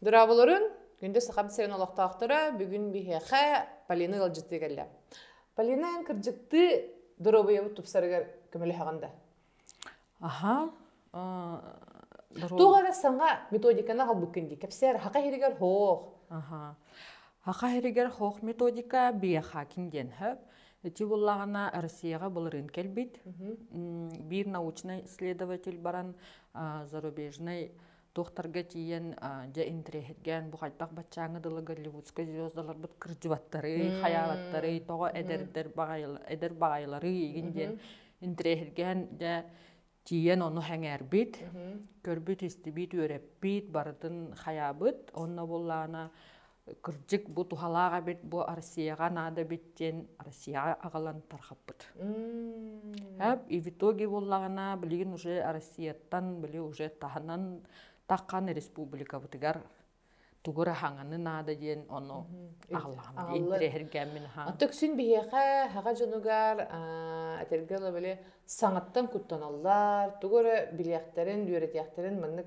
Дыраабыларын күндэ сахам сирин олохтоохторо бүгүн биһиэхэ Полина ыалдьыттыы кэллэ. Полина эн кырдьыктыы доруобуйабыт тупсарыгар көмөлөһөҕүн да? Аха. Туох эрэ саҥа методиканы албыккын дии. Кэпсээр хака иһигэр хоох. Аха. Хака иһигэр хоох методика биэха кин диэн хөп. Ити буллаҕына Россияҕа былырыын кэлбит биир научнай исследователь баран зарубежнай туохтарга тиийэн дьэ интириэһиргээн бу хайдах баччааҥы дылы голливудскай звездаларбыт кырдьыбаттары хайаабаттары тоҕо эдэрдэр эдэр баҕайылары игин диэн интириэһиргээн дьэ тиийэн ону сэҥээрбит көрбүт истибит үөрэппит барытын хайаабыт онно буллаана кырдьык бу туһалаах эбит бу Россияҕа наада эбит диэн Россияҕа аҕалан тархаппыт. Эп и в итоге буллаҕына билигин уже Россияттан били уже таһынан такқан республикабытыгар тугура хаңаны наада диэн ону аҕаллаҕына интирэһэргэммин хаан. Аттыксин биһиэхэ хаҕа дьонугар этэргэ ылы били саҥаттан куттаналлар, тугу эрэ билиэхтэрин, үөрэтиэхтэрин маннык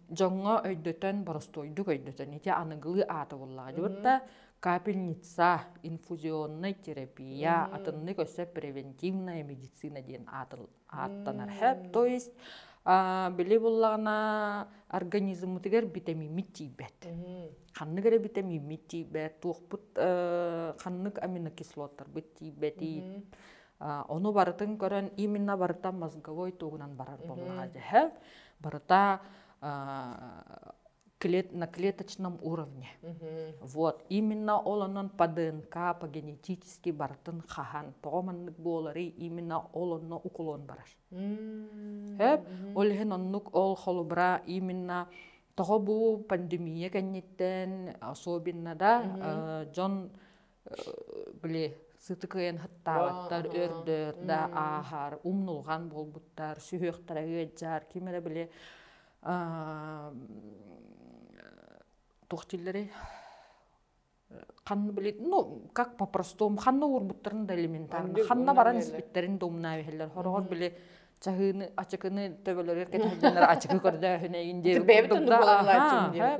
дьоҥҥо өйдөтөн боростуойдук өйдөтөн ити аныгылыы аата буоллаҕа дьыбырта капельница инфузионная терапия атыннык өссө превентивная медицина диэн ааттанар сөп то есть били буллаҕына организммытыгар битэмииммит тиийбэт ханнык эрэ битэмииммит тиийбэт туохпут ханнык аминокислоттарбыт тиийбэтий Ону барытын көрөн именно барыта мозговой тугунан барар болунаха дьэһэл барыта на клеточном уровне вот именно ол онон по днк по генетически барытын хаһан тоҕо маннык буолары именно ол онно укулон барар эп ол иһин оннук ол холубра именно тоҕо бу пандемия кэнниттэн особенно да дьон били сытыкыйын хаттаабаттар өрдөр да ааһар умнулҕан буолбуттар сүһүөхтэрэ ыалдьар ким эрэ били туох дииллэрий ханна били ну как по простому ханна уурбуттарын да элементарно ханна баран испиттэрин да умнаа иһэллэр хороҕор били чаһыыны ачыкыны төбөлөрүгэр кэтэһэллэр ачыкы көрдөөһүнэйин диэн бэйэбит да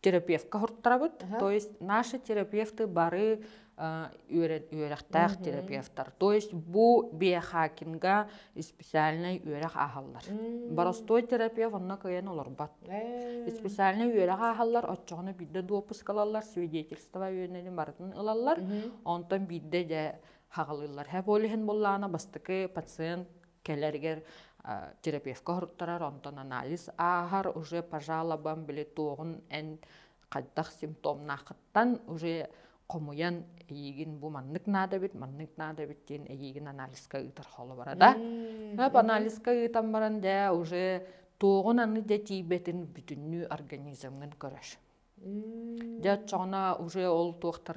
терапевтка хуртарабыт то есть наши терапевты бары үөрэхтээх терапевтар то есть бу биохакинга специальнай үөрэх ааһаллар боростуой терапевт онно кыайан олорбот специальнай үөрэх ааһаллар оччоҕуна биирдэ дуоппускалаллар свидетельство үөнөнү барытын ылаллар онтон биирдэ дьэ хаҕылыыллар һэ болиһин буллаана бастакы пациент Кэлэригэр терапевка соһуттарар, онтон анализ ааһар, уже по жалобам били туоҕун эн хайдах симптомнаахыттан уже хомуйан эйиигин бу маннык наада эбит, маннык наада эбит диэн эйиигин анализка ыытар холобура да. анализка ыытан баран дэ уже туоҕун аны дэ тиийбэтин бүтүннүү организмҥын көрөр. Дьэ оччоҕуна уже ол туохтар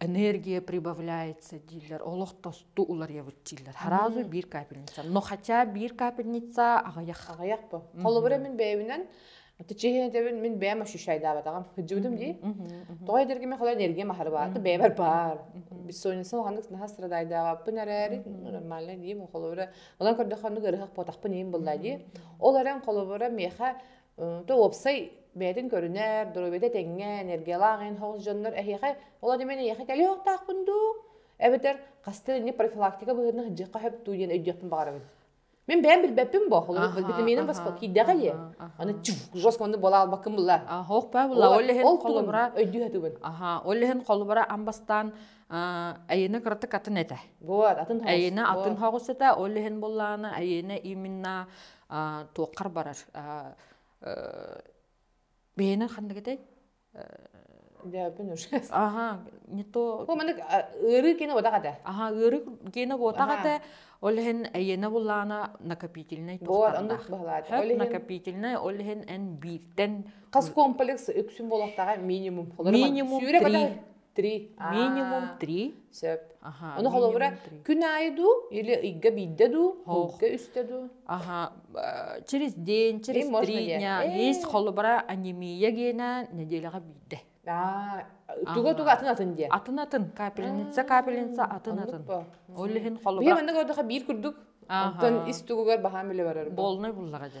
энергия прибавляется дииллэр олох тосту уларыйабыт дииллэр сразу биир капельница но хотя биир капельница аҕыйах аҕыйах бу холобура мин бэйэбинэн течение дэбин мин бэйэм ощущайдаабатаҕым сылдьыбытым дии тоҕо эдэргиме хола энергия махарбаата бэйэбэр баар бессонница улаханнык наһаа страдайдаабаппын эрээри нормально диим холобура онон көрдөххө оннук ырыһах буотахпын иһин былла дии ол эрэн холобура миэхэ Т уопсай бэйэтин көрүнэр, доруобуйата тэҥҥэ, энергиялаах эн хоҕус дьоннор эһиэхэ, ол аата мин эһиэхэ кэлиэ охтоохпун дуу? Эбэтэр хастан инник профилактика быһыытынан ыдьыахха сөп дуу диэн өйдүөхпүн баҕарабын. Мин бэйэм билбэппин бо холобур Аха, витаминым восп- аха, киирдэҕэ дии. аха, Аны аха. чух жестко оннук буола албаккын булла. Аха, ох баа булла. Ол Ол иһин ол тугун холобура өйдүү сатыыбын. аха, ол иһин холобура ам бастаан аа, айыыны кыратык атын этэ. Вот атын хоҕус. Айыыны атын вот. хоҕус этэ, ол иһин буллааны айыыны именно туоххар барар бэйэнэн ханнык этэй аха не то ыарыы киэнэ уотах этэ аха ыарыы киэнэ уотах этэ ол иһин эйиэнэ буллаана накопительнай накопительнай ол иһин эн бииртэн хас комплекс үксүн буолуохтаҕа минимум минимум три Три. Минимум три. Сөп. Ону холобура күн аайы дуу или ыйга биирдэ дуу холка үстэ дуу аха через день через три дня есть холобура анемия генен неделяга биирдэ туга-туга атын атын диye. Атын атын. Капельница, капельница атын атын. Ол иһин холобура. Биир маннык ордоха биир курдук. Оттон ис тугугар баһаам биле барар. Болнай буллага же.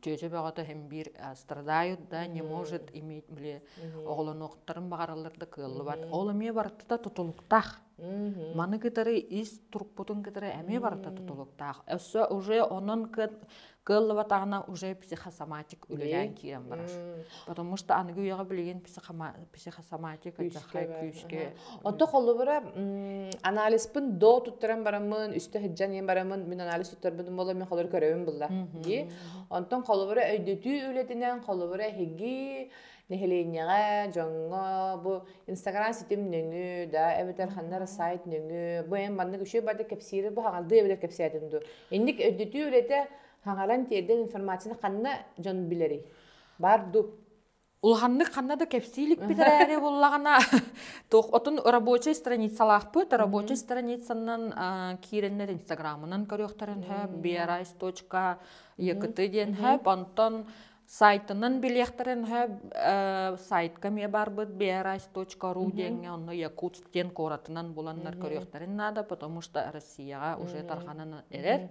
Чөчө бөҕөтө хим биир страдают, да, не может иметь биле оҕолонуохтарын баҕараллар да кыаллыбат. Ол эмиэ барытта тутулуктаах. Маны кытары ис турукпутун кытары эмиэ барыта тутулуктаах. Өссө уже онон кыаллыбатаҕына уже психосоматик үлэлээн киирэн барар. Потому что аныгы үйэҕэ билигин психома психосоматика дьаххай күүскэ отто холлубура анализпын до туттаран бараммын үстэ сыдьан ийэн бараммын мин анализ туттарбытым боло мен холор көрөбүн булла дии онтон холлубура өйдөтүү үлэтинэн холлубура эһиги нэһилиэнньэҕэ дьоҥҥо бу инстаграм ситим нөҥү да эбэтэр ханнар сайт нөҥү бу эн маннык үшүө барда кэпсиирэ бу хаҥалды эбэтэр кэпсээтин ду инник өйдөтүү үлэтэ хаҥалан тиэрдэн информацияны ханна дьон билэрий бар ду Улаханнык ханна да кэпсии иликпит эрээри буллаҕына туох отун рабочай страницалаахпыт рабочай страницанан киирэннэр инстаграмынан көрүөхтэрин сөп biarais.ua диэн сөп онтон сайтынан билиэхтэрин сөп сайтка эмиэ барбыт biarais.ru диэҥҥэ онно якутск диэн куоратынан буланнар көрүөхтэрин наада потому что россияҕа уже тарҕанан эрэр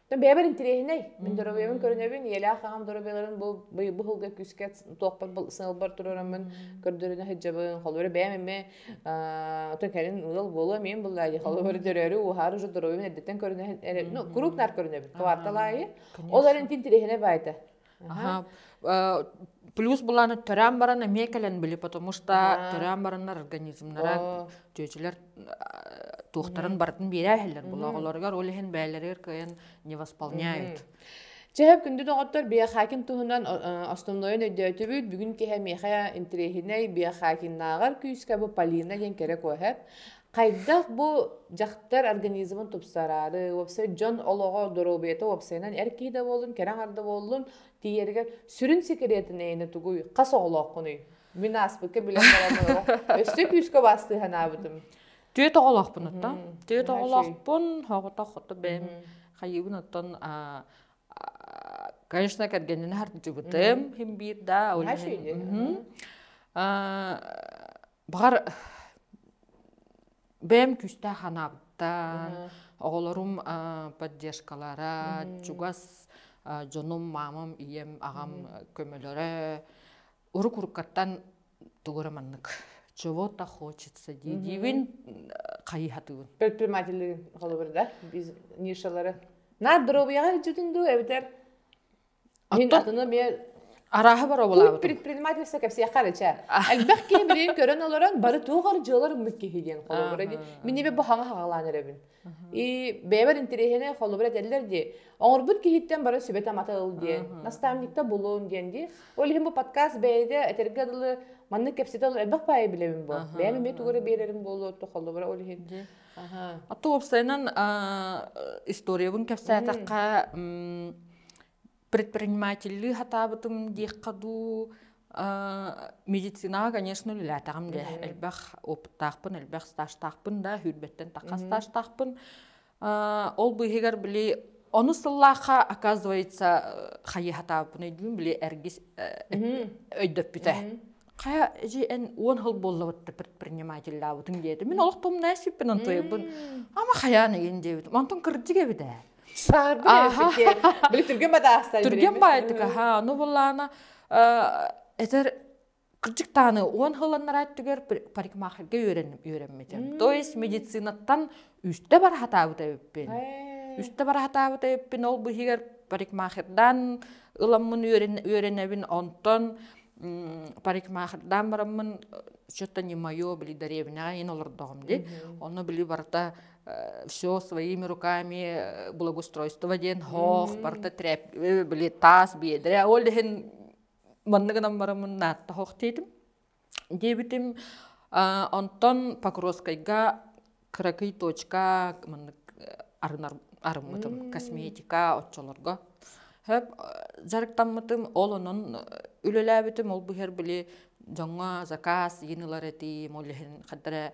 бэйэбэр интириэһинэй. Мин доруобуйабын көрүнэбин, ийэлээх аҕам доруобуйаларын бу быйылга күүскэ туохпар сыалбар туруораммын көрдөрүнэ сылдьабын. Холобура бэйэм эмиэ то кэлин ыал буолуо эмиин буллаа дии холобур төрөөрү ууһаары уже доруобуйам эрдэттэн көрүнэ ну куруук наар көрүнэбин квартал аайы ол эрэн интириэһинэй баайта плюс буланы төрөөн баран эмиэ кэлэн били потому что төрөөн бараннар организмнара чүөчүлэр туохтарын барытын биэрээ иһэллэр булооҕолоругар ол иһин бэйэлэригэр кыайан не восполняют Чэһэп күндү доҕоттор биохакин туһунан основной өйдөөтүбүт бүгүн киһи миэхэ интириэһинэй биохакиннааҕар күүскэ бу Полина диэн кэрэ куоһэп Хайдах бу дьахтар организмын тупсараары, уопсай дьон олоҕо, доруобуйата уопсайынан эр киһи да буоллун, кэрэ аҥар да буоллун, тиийэригэр сүрүн сикириэтин эйэни тугуй, хас оҕолооххунуй? Мин ааспыкка билэн баран олорох өссө күүскэ убаастыы санаабытым. Түөрт оҕолоохпунуттан. Мм, Түөрт наһаа үчүгэй. оҕолоохпун, хоҕото хото бэйэм Мгм. хайыыбын оттон а, а, конечно кэргэнин хардьыбытым, хин биир да Наһаа үөрэнэн үчүгэй. мгм. А, Баҕар бэйэм күүстээх анаабыттан, оҕолорум поддержкалара, чугас дьонум, маамам, ийэм, аҕам көмөлөрө урукурукаттан тугу эрэ маннык чего-то хочется дии диибин хайыһатыыбын. Предпринимателиин холобур да нишалары наар доруобуйаҕа илдьитин дуу эбэтэр Мин атыны эмиэ арааһы боруобалаабытым. Предпринимательство кэпсиэххэ эрэ чэ. Элбэх киһи билигин көрөн олорон бары туох дьыалар умнук киһи диэн холобура дии. Мин эмиэ бу хаҥа хаҕалаан эрэбин. И бэйэбэр интэриэһинэй холобур этэллэр дии. Оҥорбут киһиттэн бары сүбэтэ матыл диэн, наставникта булун диэн дии. Ол иһин бу подкаст бэйэтэ этэргэ дылы маннык кэпсэтэ дылы элбэх баайы билэбин бу. Бэйэм эмиэ тугу эрэ биэрэрим буолуо то холобура ол иһин. А то уопсайынан историябын кэпсээтэххэ предпринимательлыы хатаабытым диэххэ дуу медицинаҕа конечно үлэлээтэҕим дэ элбэх опыттаахпын элбэх стажтаахпын да сүүрбэттэн таха стажтаахпын ол бу иһигэр били ону сыллаахха оказывается хайы хатаабыппын өйдүүм били эргис өйдөппүтэ хайа эдьи эн уон хыл буоллабытта предпринимателлаабытын диэтим мин олох тумнаа сиппин антоебын ама хайаан ыйын диэбитим антон кырдьык эбит ээ Саарбы диэн. Били түргэн бадаастан. Түргэн баайтыка. Ха, ну буллаана этер кырдык тааны уон хыланнара түгэр парикмахерге үөрэммитим. То есть медицинаттан үстэ бар хатаабыта эппин. Үстэ бар хатаабыта эппин ол быһыгар парикмахердан ыламмын үөренэбин онтон парикмахердан бараммын что-то не мое били даребинага ин олордоҕум ди. Ону били барыта все своими руками благоустройство диэн хоох барыта трэп били таас биэдэрэ ол иһин манна гынан барамын наатта хоох диэтим диэбитим онтон покровскайга кыракый точка маннык арынар арыммытым косметика оччолорго хөп дьарыктаммытым ол онон үлэлээбитим ол быһар били дьоҥҥо заказ йынылар этим ол иһин хаддара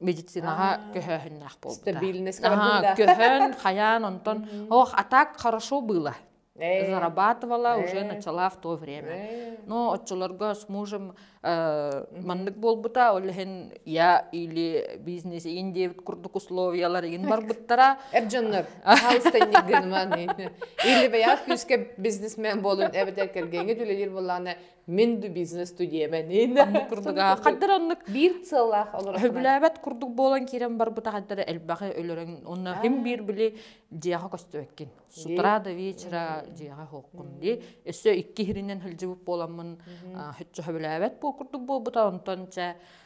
медицинаҕа көһөөһүннээх буолбута. Стабильность бардында. Көһөн, хайаан онтон ох атак хорошо было. Зарабатывала уже начала в то время. Но отчуларга с мужем маннык буолбута, ол иһин я или бизнес ин диэбит курдук условиялар ин барбыттара. Эбжоннор, хаалыстанньык гыныман. Или бэйа күүскэ бизнесмен болун эбэтэр кэргэҥҥэ түлэлир боллаана Мин ду бизнес студиябанын курдуга хаддар оннук биир сыаллаах олорор билээбэт курдук буолан киирэн барбыта хаддара элбэхи өлөрөн онно хим биир били дьиэҕэ көстөбөккин с утра до вечера дьиэҕэ хоққун ди өссө икки хиринен хылдьыбыт буоламмын хүччө билээбэт буол курдук буолбута онтон чэ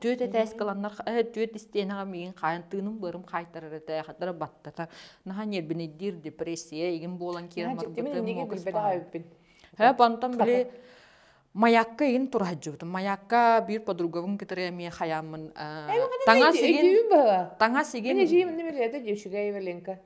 түөт этээс кыланнар түөт истиэнэҕэ миигин хаайан тыыным быарым хаайтарар этээхэтэрэ баттата наһаа ньирбинэйдиир депрессия игин буолан киирмарбытым һэ бантан били маякка игин турахажжыбытым маякка биир подругабын кытары эмиэ хаяммын таҥас игин таҥас игин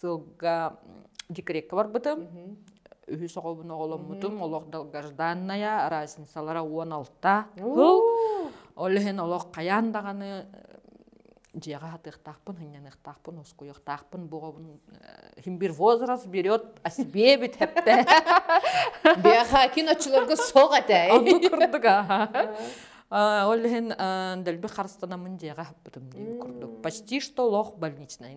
сылга декретка барбытым үһүс оҕобун оҕоломмутум олох долгожданная разницалара уон алта кыл ол иһин олох хайаан даҕаны дьиэҕэ хатыахтаахпын хынньаныахтаахпын ускуйуохтаахпын бу оҕобун химбир возраст берет о себе бүтэппэ биэха киночуларга суох этэ онну курдук ол иһин дэлби харыстанамын дьиэҕэ хаппытым дии курдук почти что олох больничнай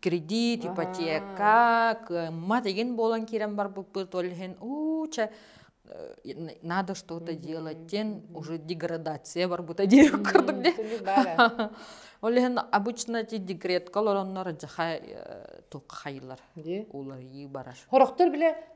кредит, ипотека, кыаммат игин буолан киирэн барбыппыт, ол иһин уу чэ надо что-то делать диэн уже деградация барбыта диир курдук диэн. Ол иһин обычно ти декретка олороннор дьаха тук хайылар уларыы барар. Хорохтор биле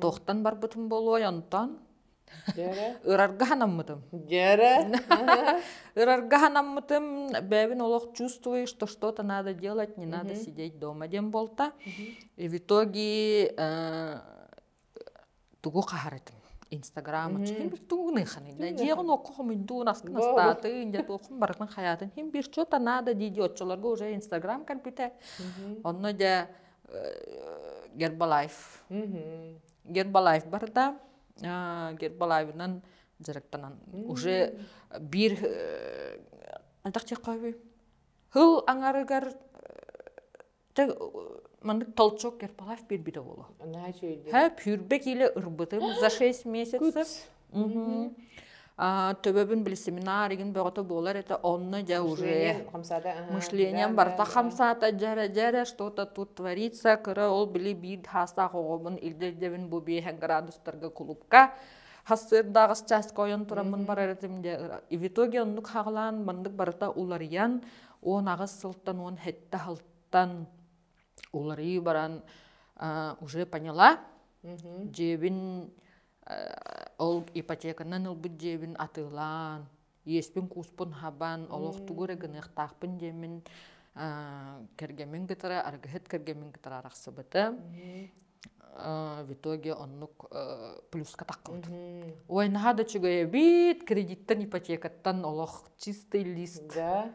Туохтан барбытым буолуой онтон? Дьэрэ Ырарга ханаммытым. Дьэрэ Ырарга ханаммытым, бэйэбин олох чувствую, что что-то надо делать, не надо Мгм. сидеть дома диэн буолта. Мгм. И в итоге э, тугу хаһарытым? Инстаграмы Мгм. тугуныханы дьиэҕин окко хомуйдуун аскын Бо астаатын дьэ туоххун барытын хайаатын иһин bir что-то надо дии-дии оччолорго уже инстаграм кэлбитэ. Мгм. Онно дьэ Гербалайф. Гербалайф барда. Гербалайфынан дьарыктанан. Уже биир атах чеккови. Хыл аңарыгар маннык толчок Гербалайф биир биде боло. Ха пүүрбе киле ырбытым за 6 месяцев. Төбөбүн били семинар игин бөҕөтө буолар это онно дьэ уже мышлением барыта хамсаата дьэрэ дьэрэ что-то тут творится кыра ол били биир хаастаах оҕобун ирдэбин бу биэһэ градустарга кулупка хассыырдааҕыс частька ойон тураммын барар этим де и в итоге оннук хаҕлаан маннык барыта уларыйан он аҕыс сылтан он хетте халтан уларыы баран уже поняла дьиэбин Ол ипотеканан ылбыт дьиэбин атыылаан, иэспин-кууспун хабан, олох тугу эрэ гыныахтаахпын диэммин кэргэммин кытары, аргыһыт кэргэммин кытары арахсыбытым. В итоге оннук плюска таххыбытым. Ой, наһаа да үчүгэй эбит, кредиттэн, ипотекаттан олох чистый лист. Да?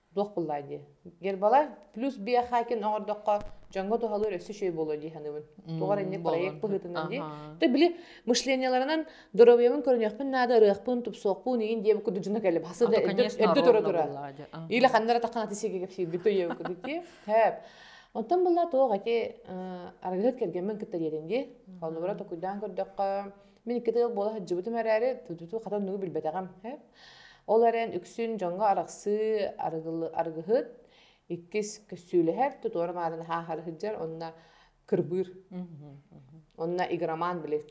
Дуох буллай дии. Гербалай плюс биохакин оҥордоххо дьоҥҥо туһалыыр өссө үчүгэй буолуо дии саныыбын. Тугар инник проект быһыытынан дии. Ты били мышлениеларынан доруобуйабын көрүнүөхпүн наада, ырыахпын, тупсуохпун иин диэм курдук дьоно кэліп хасы да өрдө төре тура. Или ханнара таххан аты сиге кепсиирбит төйөбү курдук дии. Тэп. Оттон булла тоох эти аргыһыт кэргэммен кытта диэтин дии. Холнугура токуйдаан көрдөххө Мин икки тыыл буола сылдьыбытым эрээри, тутуту хатан нугу билбэтэҕим. Ол эрэн үксүн дьоҥҥо арахсыы арыгылы арыгыһыт иккис көссүүлэһэр, тутуора маарын хааһары сылдьар, онно кырбыыр. Онно игроман били.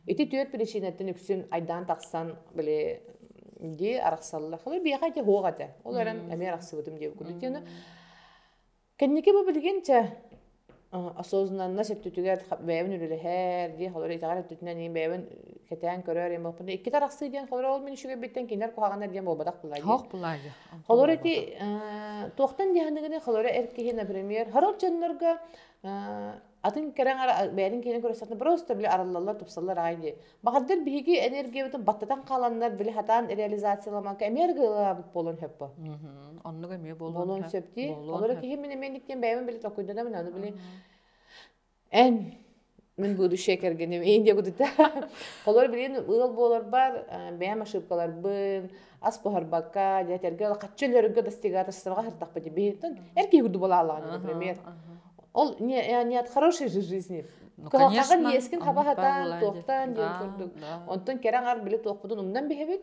Ити түөрт причинаттан үксүн айдаан тахсан били дии арахсаллар. Хылы биэхэ ити хуох этэ. Ол эрэн эмиэ арахсыбытым диэбиккин. Ити Кэнники бу билигинчэ осознанно сөптүтүгэр бэйэбин үлэлэһэр диэн холоро итэҕэл өттүтүнэн иһин бэйэбин кэтээн көрөр иэн буолбутун иккитэ арахсыы диэн холоро ол мин үчүгэйбиттэн кинилэр куһаҕаннар диэн буолбатах былай диэн. Тоох былай диэн. Холоро ити туохтан диэхэнигини холоро эр киһи, например, харор дьоннорго атын кэрэҥ ара бэйэтин киэнин көрсөтө просто били арыллаллар тупсаллар аҕай дии баҕардыр биһиги энергиябытын баттатан хааланнар били хатаан реализацияламаҥка эмиэ аргыылаабыт буолуон сөппө оннук эмиэ буолуон сөп дии олору киһи мин эмиэ диэн бэйэм били токуйдунам аны били эн мин будущее кэргэним ин диэбутута холор билин ыал буоларбар бэйэм ошибкаларбын ас буһарбакка дьэ тэргэ хаччы өлөргө достигаторстваҕа сыртахпыт биһиттэн эр киһи курдук балаалаҕа например ол не, не от хорошей же жизни ну, кылахаҕа ниэскин хабаһатаан туохтаан диэн курдук онтон кэрэ аҥар били туохпутун умнан биһэбит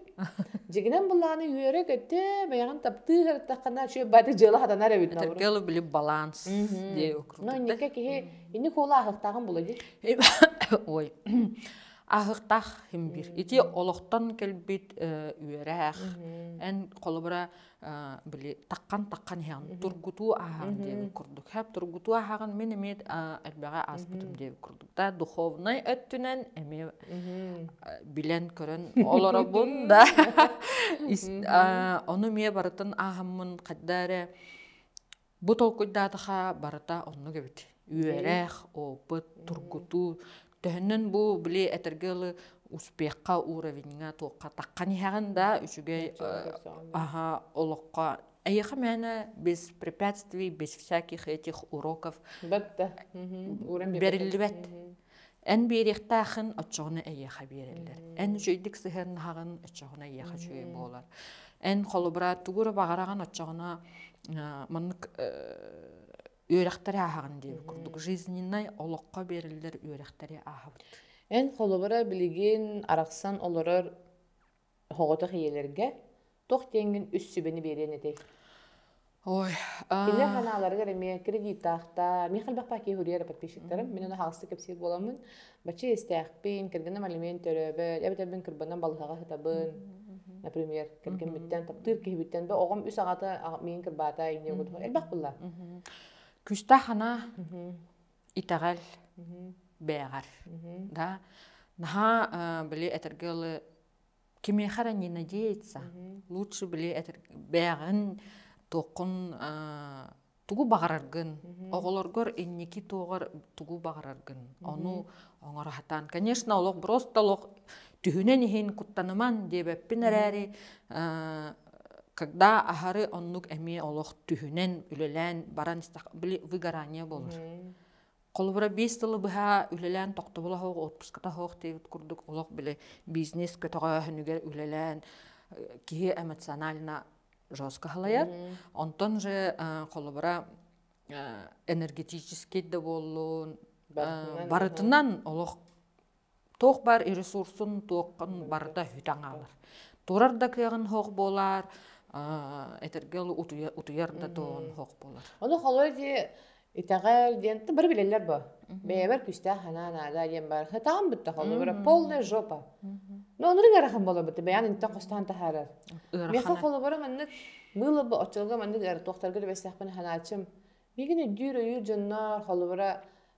дьигинэн былааны үөрэ көттө бэйэҕин таптыы хартаххана шөп баты дьыала хатанар эбит это дело били баланс дии округ но иннике киһи инни куола ахыктааҕын була ди ой ахыктаах хим бир ити олохтон кэлбит үөрэх эн холобура били таккан таккан иһэҕин тургутуу ааһаҕын диэбит курдук хап тургутуу ааһаҕын мин эмиэ элбэҕи ааспытым диэбит курдук да духовнай өттүнэн эмиэ билэн көрөн олоробун да ону эмиэ барытын ааһаммын хайда эрэ Бу толкуйдаатаха барыта оннук эбит. Үөрэх, опыт, тургутуу. Төһөннөн бу били этэргэ ылы успехха уровеньга туохха таххан иһэҕин да үчүгэй аха олоххо эйиэхэ мээнэ без препятствий без всяких этих уроков бэриллибэт Эн биэриэхтээхин оччоҕуна эйиэхэ биэрэллэр. Эн үчүйдүк сыһыаннаһаҕын оччоҕуна эйиэхэ үчүгэй буолар. Эн холобура тугура баҕараҕын оччоҕуна маннык үөрэхтэри ааһаҕын диэбит курдук жизненай олоххо биэриллэр үөрэхтэри ааһабыт. Эн холобура билигин арахсан олорор Оҕотох ийэлэргэ туох диэҥҥин үс сүбэни биэриэн этэй? Ой, Illa ханааларыгар эмиэ кредиттаахтар, миэхэ элбэх пакеты суруйар подписчиктарым, мин оны хаалсытык кэпсиир буоламмын, бачча иэстээхпин, кэргэним алимент төрөөбөт, эбэтэр кырбанан балыһаҕа сытабын, например, кэргэммиттэн таптыыр киһибиттэн, оҕом үс аҕата миигин кырбаата, инньэ элбэх буолла. Күүстээх санаа. итэҕэл бээҕэр да наһаа били этэргэ дылы кимиэхэ эрэ не надеяться лучше били бээҕин туоххун тугу баҕараргын оҕолоргор инники туоҕар тугу баҕараргын ону оҥоро сатаан конечно олох просто олох түһүнэн иһин куттаныман диэбэппин эрээри когда аһары оннук эмиэ олох түһүнэн үлэлээн баран били выгорание болор холобура биэс тылы быһа үлэлээн тохтобула хоох отпуската хоох диэбит курдук олох били бизнес көтөҕөөһүнүгэр үлэлээн киһи эмоционально жестко халайар онтон же холобура энергетический да буоллун барытынан олох Туох баар ресурсун туоххун барыта үтэн хаалар. Турар да кыаҕын суох буолаар, этэргэ дылы утуйа утуйар да туһун суох буолар. Ону холой дии итэҕэл диэн ты бары билэллэр бо. Бэйэбэр күстээх санаа наада диэн бар. Хатаан бутта холобура полная жопа. Но онурун ыарахан болобут бэйан интен хостаан тахаарар. Меха холобура маннык быыла бу оччолго маннык эр туохтарга да бэстэхпин ханаачым. Мигин өйдүүр өйүүр дьоннор холобура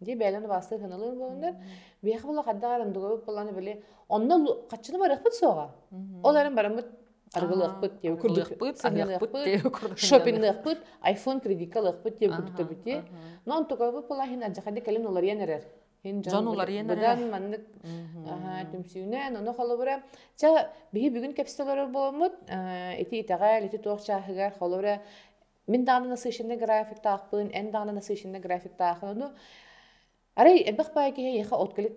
Дии бэйэлэрин убаастыы саналыыр буоланнар, биһиэхэ була хардах эрим дугабыт буллааны били онно хаччыны барыахпыт суоҕа. Ол эрэн бараммыт арыгылыахпыт диэби курдук аһыахпыт диэби курдук шопинныахпыт айфон кредитка ылыахпыт диэби курдук бити но онтукабыт була иһин адьахади кэлин уларыйан эрэр дьон уларыйан эрэр быдан маннык түмсүүнэн ону холобура ча биһи бүгүн кэпсэ олорор буоламмыт ити итэҕэл ити туох чааһыгар холобура мин даҕаны насыщенный графиктаахпын эн даҕаны насыщенный графиктаахын ону арай элбэх баай киһи эйиэхэ от кэлит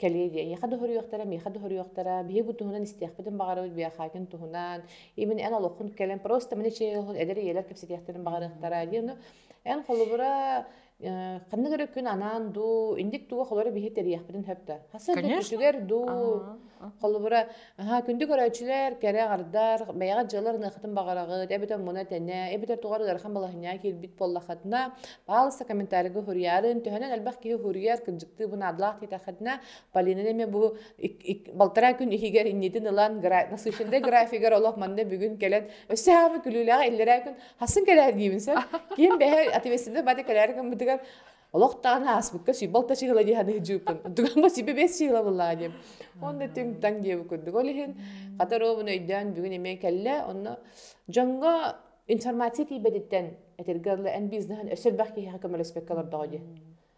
кэлиэ диэ эйиэхэ доһоруйуохтара миэхэ доһоруйуохтара биһиги бу туһунан истиэхпитин баҕарабыт биэхаакин туһунан имин эн олоххун кэлэн просто маны чиэйэлхун эдэр ийэлэр кэпсэтиэхтэрин баҕарыахтара диэн эн холобура Э, ханнык эрэ күн анаан дуу, инник дуу холобура биһи тэрийиэхпитин сөп да. Хас Конечно. сөргүтүтүгэр дуу, А. холобура, аһа күндү көрөөччүлэр кэрэ-хардар, бэйэҕит дьыалар ыныаххытын баҕараҕыт, эбэтэр муна-тэнэ, эбэтэр тугар ыарахан балаһынньа киирбит буоллаххытына, пожалуйста, комментарийга суруйарын. Төһөнөн элбэх киһи суруйар, кырдьыктыы бу наадалаах диэтэххитинэ, Полинаны эмиэ бу ик ик балтараа күн иһигэр иннитин ылан, гра насыщеннай графигар олох манна бүгүн кэлэн өссө аһы күлүүлэҕэ иллэрээ күн Хасын кэлээр диибин сөп. Ким бэһэр ответственный бады кэлээр гыммытыгар олох дааны ааспыкка сүйбалта чыгыла дии ханыһыдьыыппын. Дуганга сибе бес чыгыла былаа дием. Онно түҥ таң диэбу курдук. Ол иһин хатаробун өйдөөн бүгүн эмиэ кэллэ. Онно дьонго информация тиийбэтиттэн этирге эн бизнеһин өссө бах киһиэхэ көмөлөспөккө олордоҕо дии.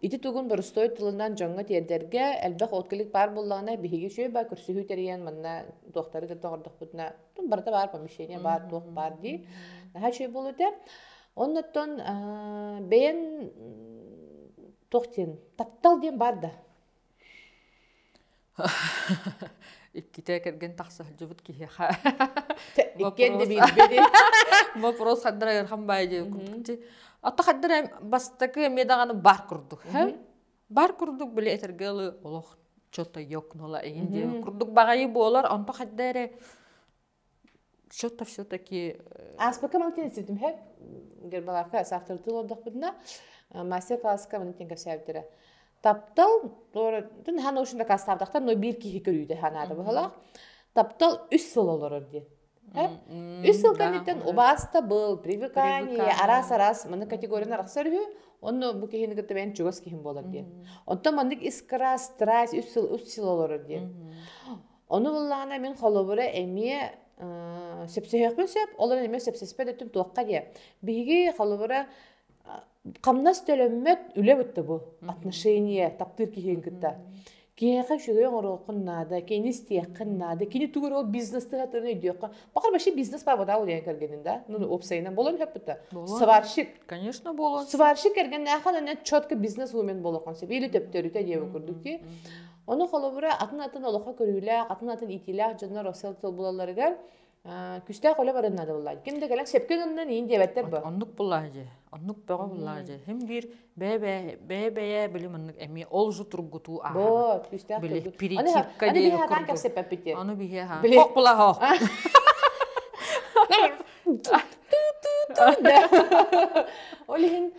Ити тугун боростуой тылынан дьоҥҥо тиэрдэргэ элбэх откелик баар буллаҕына биһиги үшүөбэ көрсүһүү тэрийэн манна туохтары кытта оҥордохпутуна ну барыта баар помещение баар туох баар дии наһаа үчүгэй буолуо этэ оннуттан бэйэн туох диэн таптал диэн баар да Иккитэ кэргэн тахса сылдьыбыт киһиэхэ иккиэн да биирбэди боппуруос хардыр айархан баайы дии отто хардыр бастакы эмиэ даҕаны бар курдук бар курдук били этэргэ ылы олох чото йокнула игин диэн курдук баҕайы буолар онто хадда эрэ что-то все-таки ааспыкка манкин сүтүмһэк гербаларка саахтыртыы олордохпутуна мастер класска манатин кэпсээбиттэрэ таптал туоратын хан ошин дакаастаабдахтан но биир киһи көрүүтэ ханаата быһалаах таптал үс сыл олорор диэн үс сыл кэнниттэн убааста был привыкание араас араас маны категорияны арахсар үһү онно бу киһини кытта эн чугас киһим буолар диэн оттон маннык искра страсть үс сыл үс сыл олорор диэн Ону ыллаҕына мин холобура эмиэ э, сөпсөһүөхпүн сөп, олорон эмиэ сөпсөспөт өттүм туохха диye. Биһиги холобура хамнас төлөммөт үлэ бутта бу отношение таптыыр киһиин кытта. Киһиэхэ үчүгэй оҥоруоххун наада, кини истиэххин наада, кини тугур ол бизнес тыһатын өйдүөххэ. Бакар вообще бизнес бар вода улиен кэргенин да, ну опсайынан болон хөппүтэ. Сварщик. Конечно болон. Сварщик кэрген наахан четко бизнес умен болохон сеп или төптөрүтэ диэбу курдук ки. Ону холобура атын-атын олоххо көрүүлээх, атын-атын иитиилээх дьоннор осел булалларыгар күстээх үлэ баран наадабыллаан. Ким да кэлэн сөпкө гыннын иин диэбэттэр бу. Оннук буллаах дьи. Оннук бөҕө буллаах дьи. Хим биир бэйэ-бэйэ билим оннук эми ол жу тургутуу ааһар. Бо, күстээх тургут. Аны биһи ханаан кэпсеппеппит. Ону биһи ха. Хох булаах Ол иһин,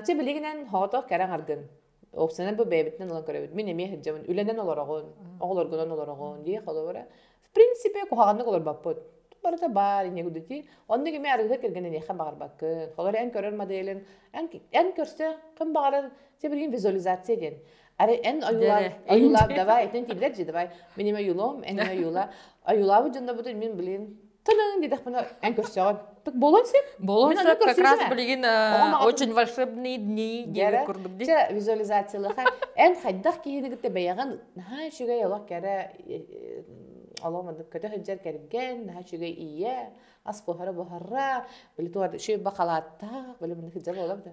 чэ билигинэн хоотох кәрен аргын. опциядан бу бэйэбитинэн ылан көрөбүт мин эмиэ сылдьабын үлэнэн олороҕун оҕолоргунан олороҕун дии холобура в принципе куһаҕаннык олорбоппут барыта баар инегудити оннук эмиэ аргыһы кэргэн эниэхэ баҕарбаккын холобура эн көрөр моделин эн эн көрсө ким баҕарар те блин визуализация диэн ары эн ойуулаах ойуулаах давай итин тиллэр же давай мен им ойуулом эн ойуула ойуулаабыт дьоннобутун мин блин Тылын дидэхпинэ эн көрсөҕүн. Так буолуон сөп. Буолуон сөп. Как раз билигин очень волшебные дни диэбит курдук дии. Чэ, визуализациялаха эн хайдах киһини кытта бэйэҕин наһаа үчүгэй олох кэрэ олоом андык көтө сылдьар кэргэн наһаа үчүгэй ийэ ас буһара буһара били туга шөйбэ халааттаах били мыннык дьа буолабыта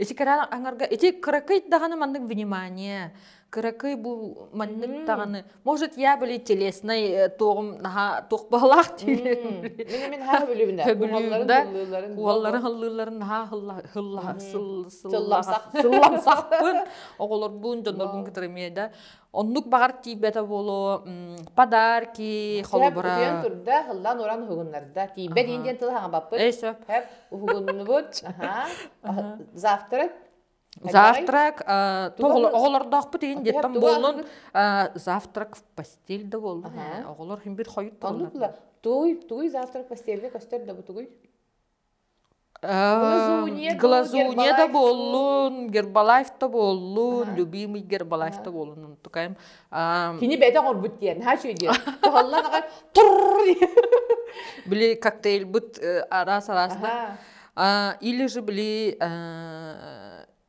Ити кыраан аңарга ити кыракый даҕаны маннык внимание, кыракый бу маннык даҕаны, может, я были телеснай э, туоҕум наһаа туох баалаах диир. Мин мин ха билибинэ. Көбүлүүн да уолларын хыллыылларын наһаа хылла хылла сылламсах сылламсахпын оҕолорбун дьоннорбун кытары да Оннук баҕар тиийбэтэ буолуо, подарки, холобура. Утуйан турда, ыллаан уран уһугуннарда. Тиийбэт иин диэн тыл хаҥаппыт. Эй, сөп. Уһугуннубут. Завтрак. Завтрак, оҕолордоохпут иин диэттэн буоллун, завтрак в постель да буоллун. Оҕолор химбит хойут туоллар. Оннук туй, туй завтрак постельге көстөр да бу тугуй? глазунья да буоллун гербалайф да буоллун любимый гербалайф да буоллун онтукайым кини бэтэх орбут диэн ха үчүгэй диэн туһаллан аҕай били коктейлбыт араас араасна или же били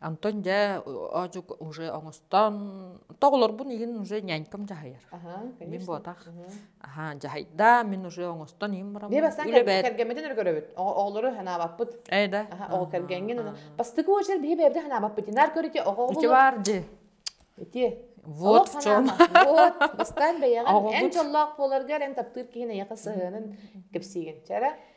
Антон дьэ оожук уже оҥостон тоҕолорбун иһин уже нянькам дьаһайар. Аһа, Мин буотах. Аха дьаһайда мин уже оҥостон иһин барам. Бии бастаан кэргэммитин өргөрөбүт. Оҕолору ханаабаппыт. Ээ да. Аха ол кэргэҥҥин. Бастакы очер биһи бэйэбди ханаабаппыт. Инаар көрүтэ оҕоҕо. Ити бааржы. Ити. Вот в чем. Вот бастаан бэйэҕин эн чоллоох буоларгар эн таптыыр киһин эйэхэ сыһыанын кэпсиигин. Чара.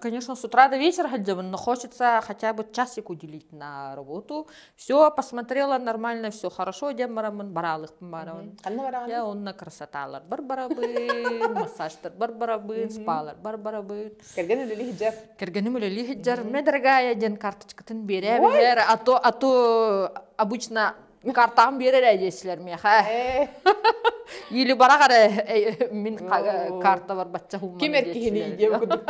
конечно с утра до вечера ходила но хочется хотя бы часик уделить на работу всё посмотрела нормально всё хорошо одем бараммын бараалыхпын барабын ханна бараҕыный я онно красоталар бар барабын массажтар бар барабын спалар бар барабын кэргэн үлэлии сылдьар кэргэним үлэлии сылдьар мне дорогая диэн карточкатын берээ Ой! биһэр а то а то обычно картаан биэр эрэ диэсилэр миэхэ или барах эрэ мин картабар бачча хууммар ким эр киһини диэн курдук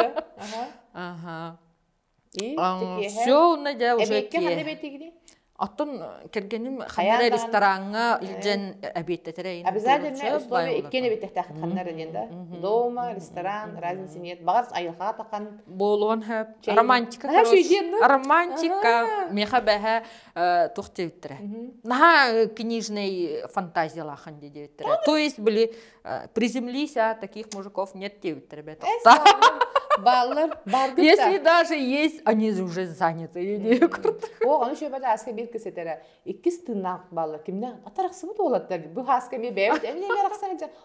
аха все унна дьэ уже киһи оттон кэргеним ханна рестораҥҥа илдьэн эбиэттэтэрэ обязательно условия иккиэн эбиттээхтэх ханна диэн да дома ресторан разницы нет баҕар айылҕа такан буолуон сөп романтика романтика меха бэһэ тух диэбиттэрэ наһаа книжный фантазиялаахан дии диэбиттэрэ то есть были приземлись а таких мужиков нет диэбиттэрэ бэтэхта бааллар если даже есть они уже заняты оо аны шөбө ааска биир кисэтэрэ иккис тыыннаах бааллар кимнэ атарахсыбыт уолаттар бу ааска би бэбит эмле барахсайджа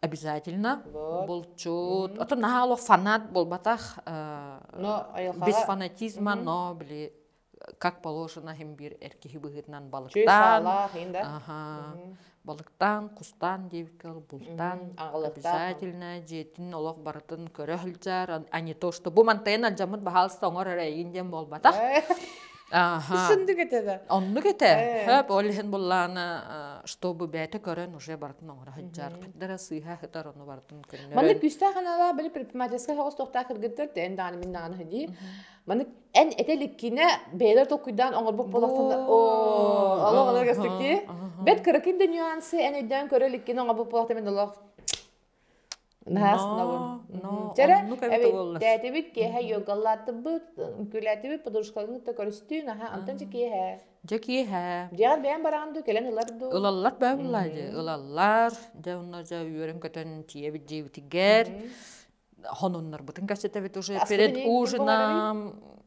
обязательно вот. булчут ото наһаа олох фанат буолбатах но без фанатизма но били как положено хим бир эр киһи быһыытынан балыктаан балыктаан кустаан диэбиккэл бултаан обязательно дьиэтин олох барытын көрө сылдьар а не то что бу мантайын алдьаммыт баһаалыста оҥор эрэ диэн буолбатах Аха. Сын кете да. Оннук ете. Хөп, ол иһин буллаана, чтобы бэйэтэ көрөн уже бартын оҥоро сылдьар. Хардара сыыһа хытар ону бартын көннөрөн. Маннык күүстээх аналаа били предпринимательскай хоҕостоохтаах кыргыттар эн даҕаны мин даҕаны дии. Маннык эн эте иликкинэ бэйэлэр толкуйдаан оҥорбут буолахтан оо олох олоргастыки. Бэт кыракин да нюансы эн өйдөөн көрө иликкин оҥорбут буолахтан мин олох Наһаастанабын. Чэрэ, эби тээтибит киэһэ йогалаатыбыт, күлээтибит подружкаларын кытта көрүстүү, наһаа антон же киэһэ. Дьэ киэһэ. Дьиэҕэр бэйэм бараҕын дуу, кэлэн ылар дуу? Ылаллар бэйэм ыллаа дии. Ылаллар. Дьэ онно дьэ үөрэн-көтөн тиийэ илдьибитигэр хонуннарбытын кэпсэтэбит уже перед ужином.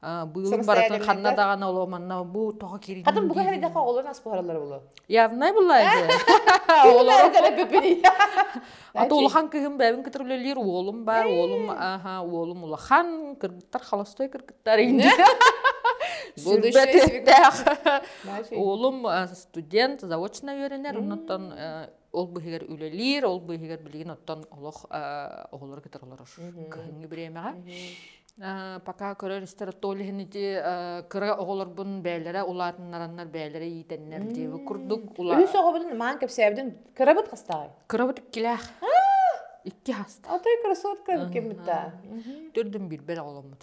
быылын барытын ханна даҕаны оло манна бу тоҕо кирин хатын буга херидеха олон ас буһаралар булу явнай булай же олору ата улахан кыһым бэбин кытырылелиир уолум бар уолум аха уолум улахан кыргыттар халастой кыргыттар инде будущее уолум студент заочно үйренер оннуттан ол быһыгар үлэлиир, ол быһыгар билигин оттон олох оҕолору кытары олорор кыһыҥҥы бириэмэҕэ. Пока көрөр-истэр оттол иһин ити кыра оҕолорбун бээлэрэ улаатыннараннар бээлэрэ иитэннэр диэби курдук ула Үс оҕобун маан кэпсээбитин кырабыт хастаҕай? Кырабыт иккилээх. Икки хаста. Атай красотка кеммитта. Төрдүн биирбэр оҕоломмут.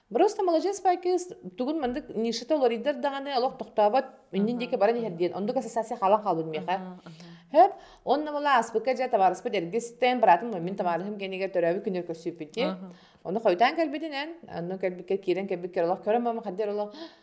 Просто маладьыас кыыс тугун мандык нишата уларыйдар даҕаны олох тохтообот иннин диэки баран иһэр диэн оннук ассоциация хаалан хаалбыт миэхэ хөп онно мала ааспыкка дьэ табаарыспыт эргистэн быраатым маммин табаарыһым кэнигэр төрөөбүт күнүгэр көрсүппүтүн ону хойутаан кэлбитинэн онно кэлбиккэ киирэн кэлбиккэ олох көрөн мама хаддэр олох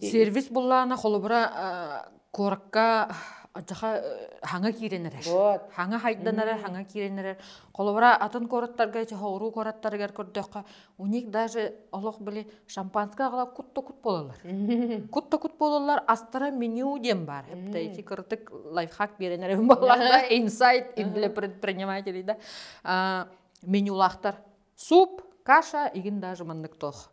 Сервис буллаана холобура куоракка адьаха хаҥа киирэн эрэр. Хаҥа хайдан эрэр, хаҥа киирэн эрэр. Холобура атын куораттарга, чоһооруу куораттарыгар көрдөххө, у них даже олох были шампанская аҕала кут-то-кут буолалар. Кут-то-кут буолалар, астара меню диэн баар. Хепта эти кырытык лайфхак биэрэн эрэрим буоллаха, инсайт для предпринимателей да менюлаахтар. Суп, каша, игин даже маннык тоох.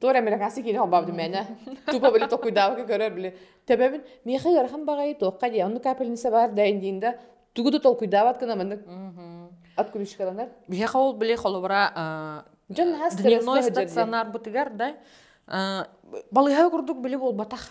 Туор американцы киинэ холбаабыт мээнэ тупа били токуйдаабыкка көрөр били төбөбүн миэхэ ыарахан баҕайы туохха дии онну капельница баар да индиин да тугу да толкуйдаабат гына маннык от ключикаланар биһиэхэ ол били холобура дьон наһаа дневной стационарбытыгар да балыыһа курдук били буолбатах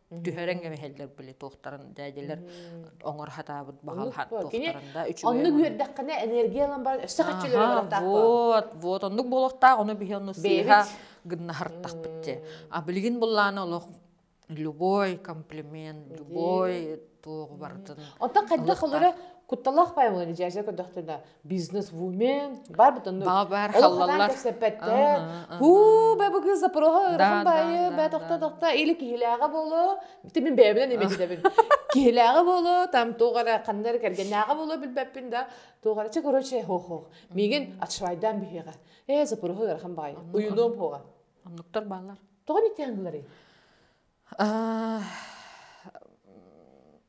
түһэрэн кэбиһэллэр были туохтарын дээдилэр оҥор хатаабыт баһалаһан туохтарын да үчүгэй оннук үөрдэххинэ энергия ылан баран өссө хаччылары барахтаах вот вот оннук буолуохтаах ону биһи ону сыыһа гыннаһартахпыт те а билигин буллааны олох любой комплимент любой туоҕу бартын оттон хайдах холура кутталаах паймылы дьээсэ көрдөхтүнэ бизнес-вумен барбытын баар халлаллар кэпсэппэттэр хуу бе бу кыз запроха ырахан байы бе тохта тохта или киһилээҕэ болу бите мин бэйэбинэн имититэбин киһилээҕэ болу там тугара ханнар кэргэннээҕэ болу билбэппин да тугара че короче хох хох мигин отшвайдан биһиэҕэ э запроха ырахан байы уюном хоға оннуктар бааллар тоҕон итиэн гылары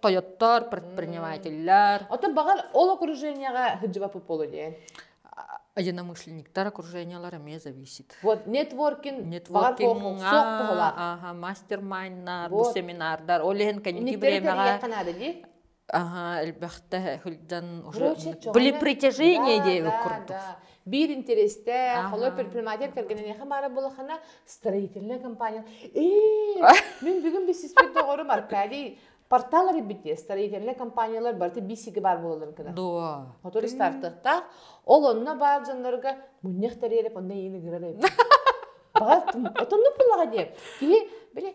Тойоттор, предпринимателлэр. Оттон баҕар ол окружениеҕа сылдьыбат буолуо диэн. Единомышленниктар окружениелара эмиэ зависит. Вот нетворкинг, нетворкинг, мастер-майннар, бу семинардар, ол иһин кэнники бириэмэҕэ Аха, элбэхтэ сылдьан уже были притяжение диэбит курдук. биир интэриэстээх, олор предприниматель кэргэниниэхэ баара буолаххына, строительная компания, ээ, мин бүгүн бистиспит доҕорум Аркадий портал эрбит диye строительная компаниялар барыта бисиги бар бололорун кына. Дуо. Хотор стартыктаах. Ол онна бар жонлорго мунньах тариереп онна ейни гырар эбит. Бага отонну пулага диеп. Киһи, биле,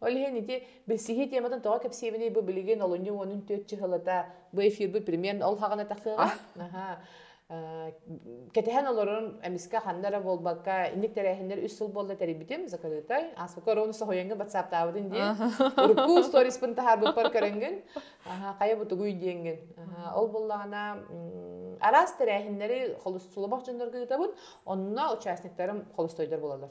Ол иһин ити билсиһии тиэмэтин тоҕо кэпсиибиний бу билигин олунньу уонун түөрт чыһылата бу эфирбыт пример ол хаҕына тахсыаҕа аһаа кэтэһэн олорон эмискэ ханна эрэ буолбакка инник тэрээһиннэр үс сыл буолла тэрийбитим закрытай ааспыкка оруону соһуйаҥҥын батсааптаабытын диэн урукку сториспын таһаарбыппар көрөҥҥүн хайа бу тугуй диэҥҥин ол буллаҕына араас тэрээһиннэри холустулабах дьоннорго ыытабын онно участниктарым холустойдор буолаллар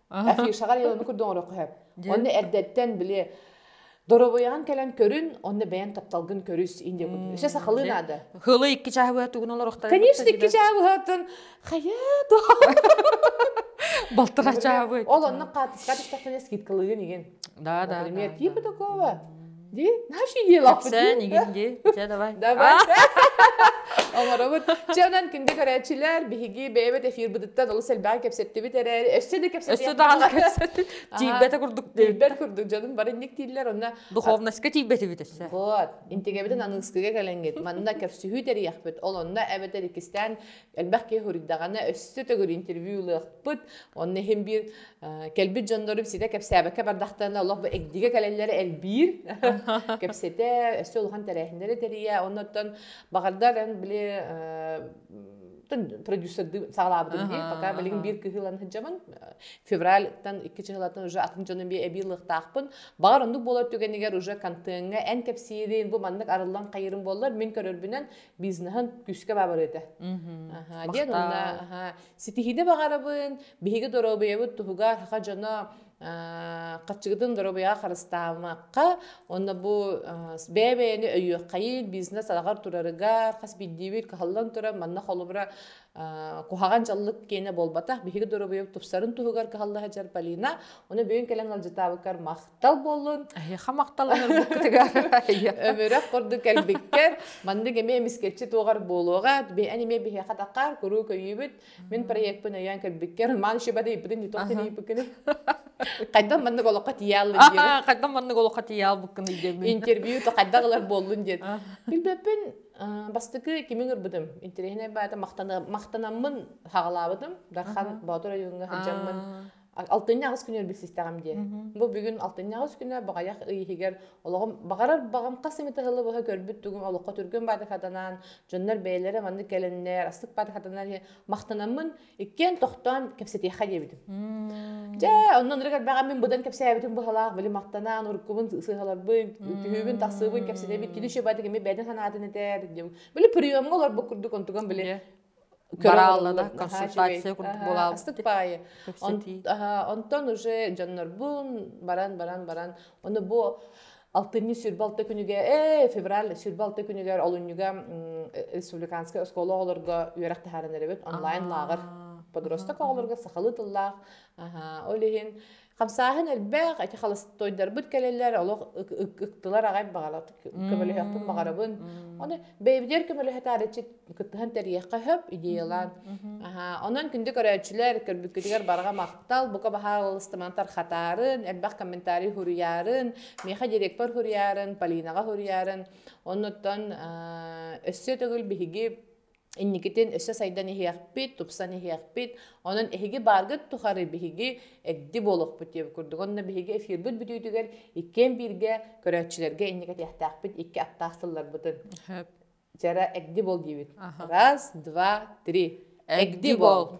афишаҕар илону курдук оҥороххо сөп онно эрдэттэн били доруобуйаҕын кэлэн көрүн онно бэйэн тапталгын көрүс инде өссө сахалыы наада хылы икки чаһы быһа тугун олорохтон конечно икки чаһы быһатын хайа до балтыра чаһы ол онно хаатыска түстэхтene скидкалыгын игин да да пример типа такого Дии? Наши делафы дии. Кэпсээн дии. Дьэ давай. Давай. Оҥоробут. Чэ онон күндү көрөөччүлэр, биһиги бэйэбит эфирбытыттан олус элбэҕи кэпсэттибит эрээри, өссө да кэпсэтиэх. Өссө даҕаны кэпсэттибит. Тиийбэтэ курдук диэн. Тиийбэт курдук дьонум бары инник дииллэр онно. Духовноска тиийбэтибит өссө. Вот. Интигэбитин аныыскыга кэлэҥҥит. Манна кэпсиһүү тэрийэхпит. Ол онно эбэтэр иккистээн элбэх киһи суруйдаҕына өссө төгүл интервью ылыахпыт онно иһин биир кэлбит дьоннорум ситэ кэпсээбэккэ бардахтарына олох бу эгдигэ кэлэллэрэ элбиир кэпсэтэ өссө улахан тэрээһиннэри тэрийэ оннуттан баҕардар эн били продюсердыы саҕалаабытым дии пока билигин биир кыһы ылан сылдьабын февральтан икки чыһылатын уже атын дьонум бии эбии ылыахтаахпын баҕар оннук буолар түгэнигэр уже контеҥҥа эн кэпсиирин бу маннык арыллан хайырын буоллар мин көрөрбүнэн бизнеһын күүскэ баабар этэ. Диэн уонна ситиһиини баҕарабын, биһиги доруобуйабыт туһугар хаха дьоно хаччыгытын доруобуйаҕа харыстаабакка, онно бу бэйэ-бэйэни өйүөххайын, бизнес араҕар турарыгар хас биирдиибит кыһаллан турар, манна холобура куһаҕан дьаллык киэнэ буолбатах, биһиги доруобуйабыт тупсарын туһугар кыһалла сылдьар Полина, оны бүгүн кэлэн алдьатаабыккар мах Махтал буоллун, эһиэхэ махталлар буккытыгар. Өмүрэх курдук кэлбиккэр, маннык эмиэ эмискэччи туоҕар буолуоҕа. Эн эмиэ биһиэхэ тахаар, куруук өйүүбүт. Мин проекпын өйөөн кэлбиккэр, Роман Шибады ыйыппытын итох тирииппиккиний? Хайдан маннык олоххо тиийэаллын диэн. Хайдан маннык олоххо тиийэалбыккын өйдөөбүн. Интервью то хайдах ылар буоллун диэн. Билбэппин бастакы кимин ырбытым. Интеллигенай баата махтанаммын хаҕалаабытым. Дархан Боотур ойууҥҥа сылдьаммын алтынньаҕыс күнүгэр билсистэҕим дии бу бүгүн алтынньаҕыс күнэ баҕайах ый иһигэр олоҕум баҕарар баҕам хас эмит ыһылы быһа көрбүт тугум олоххо түргэн баадахатанан дьоннор бэйэлэрэ маннык кэлэннэр астык баадахатанан махтанаммын иккиэн тохтоон кэпсэтиэхэ диэбитим дьэ оннун ырыгар бэҕэм мин быдан кэпсээбитим быһалаах били махтанан уруккубун сыһаларбын түһүүбүн тахсыыбын кэпсэтэбин кини еще баадыгы ми бэйдин санаатын этэр диэбин били приемҥа олорбут курдук онтуган били барааллара консультация курдук буолаабыт ыстык паайы онтон уже дьоннорбун баран баран баран ону бу алтынньы сүрбэ алта күнүгэ ээ февраль сүрбэ алта күнүгэр олунньуга республиканскай оскуола оҕолорго үөрэх таһааран эрэбит онлайн лааҕыр подросток оҕолорго сахалыы тыллаах ол иһин Хамсааһын элбэх, эти холостойдарбыт кэлэлэр, олох ыктылар аҕай баҕалат көмөлөһөхпүн баҕарабын. Оны бэйбидер көмөлөһөтаарыччы кыттыһан тэриэххэ хөп идеялаан. Онон күндү көрөөччүлэр көрбүккүтүгэр барҕа махтал, бука баһаалыстыман тархатарын, элбэх комментарий хуруйарын, меха директор хуруйарын, Полинаҕа хуруйарын. Оннуттан өссө төгүл биһиги инникитин өссө сайдан иһиэхпит, тупсан иһиэхпит. Онон эһиги бааргыт тухары биһиги эгди буолуохпут диэбит курдук. Онно биһиги эфирбыт бүтүүтүгэр иккиэн бииргэ көрөөччүлэргэ инники этиэхтээхпит икки аттаах сылларбытын. Жара эгди бол диибит. Раз, два, три. Эгди бол.